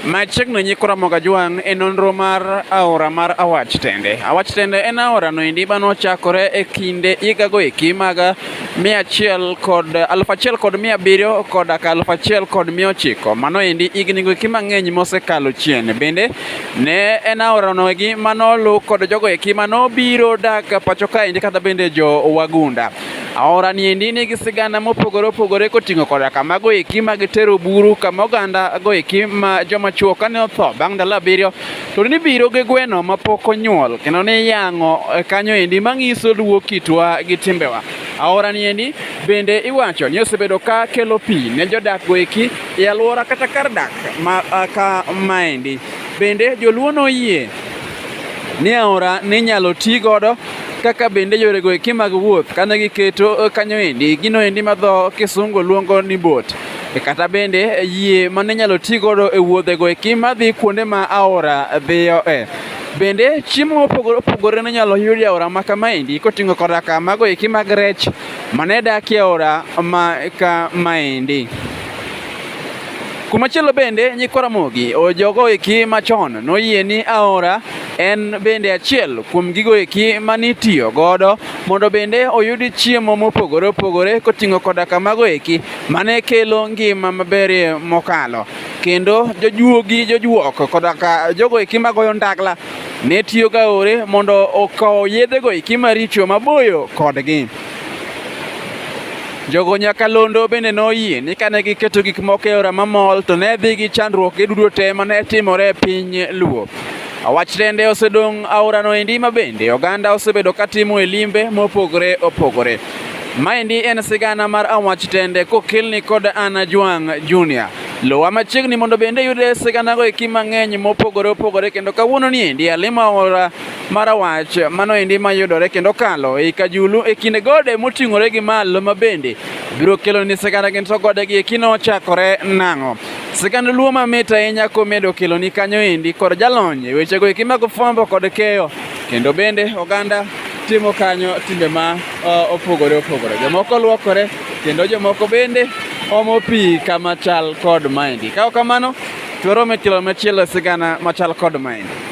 Machiegni nyik Ramoga Jwang' e nonro mar aora mar Awach Tende. Awach Tende en aora noendi ma nochakore e kinde higago eki mag mia achiel kod aluf achiel kod mia abiriyo koda ka aluf achiel kod mia ochiko. Mano endi hignigo eki mang'eny mosekalo chien. Bende ne en aora noegi manolu kod jogo eki manobiro dak pacho kaendi kata bende jo wagunda. Aora niendi nigi sigana mopogore opogore koting'o koda kama goeki ma gitero buru kama oganda goeki ma joma chuo kane otho bang' ndalo abiriyo to nibiro gi gweno mapok onyuol kendo ni yang'o e kanyo endi mang'iso luo kitwa gi timbewa. Aora niendi bende iwacho ni osebedo ka kelo pi ne jodak goeki e alwora kata kar dak ma, ka maendi. Bende joluo noyie ni aora ninyalo ti godo kaka bende yorego eki mag wuoth kane giketo eh, kanyo endi gino endi ma dho kisungu luongo ni bot e kata bende eh, yie mane inyalo ti godo e wuodhego eki madhi kuonde ma aora dhiyo e bende chiemo mopogore opogore ninyalo yud e aora ma kamaendi koting'o koda ka mago eki mag rech mane dak e aora ma kamaendi kumachielo bende nyikwa ramogi jogo eki machon noyie ni aora en bende achiel kuom gigo eki ma nitiyo godo mondo bende oyud chiemo mopogore opogore koting'o koda kamago eki mane kelo ngima maberie mokalo kendo jojuogi jojuok koda ka jogo eki magoyo ndagla ne tiyo ga ore mondo okaw yedhego eki maricho maboyo kodgi jogo nyaka londo bende noyie ni kane giketo gik moko e ora mamol to ne dhi gi chandruok giduto te mane timore e piny luo Awach tende osedong' aorano endi ma bende oganda osebedo ka timo e limbe mopogore opogore. Maendi en sigana mar Awach Tende kokelni kod Anna Jwang' Junior. Lowa machiegni mondo bende yude siganago eki mang'eny mopogore opogore kendo kawuono ni endi alimo aora mar Awach mano endi mayudore kendo kalo ei Kajulu e kind gode moting'ore gi malo ma bende biro kelo ni sigana gin to godegi eki nochakore nang'o. Sigand Luo mamit ahinya komedo keloni kanyo endi kod jalony e wechego eki mag fwambo kod keyo kendo bende oganda timo kanyo timbe ma uh, opogore opogore jomoko luokore kendo jomoko bende omo pi kama chal kod maendi. Kawo kamano, twarome kilo machielo sigana machal kod maendi.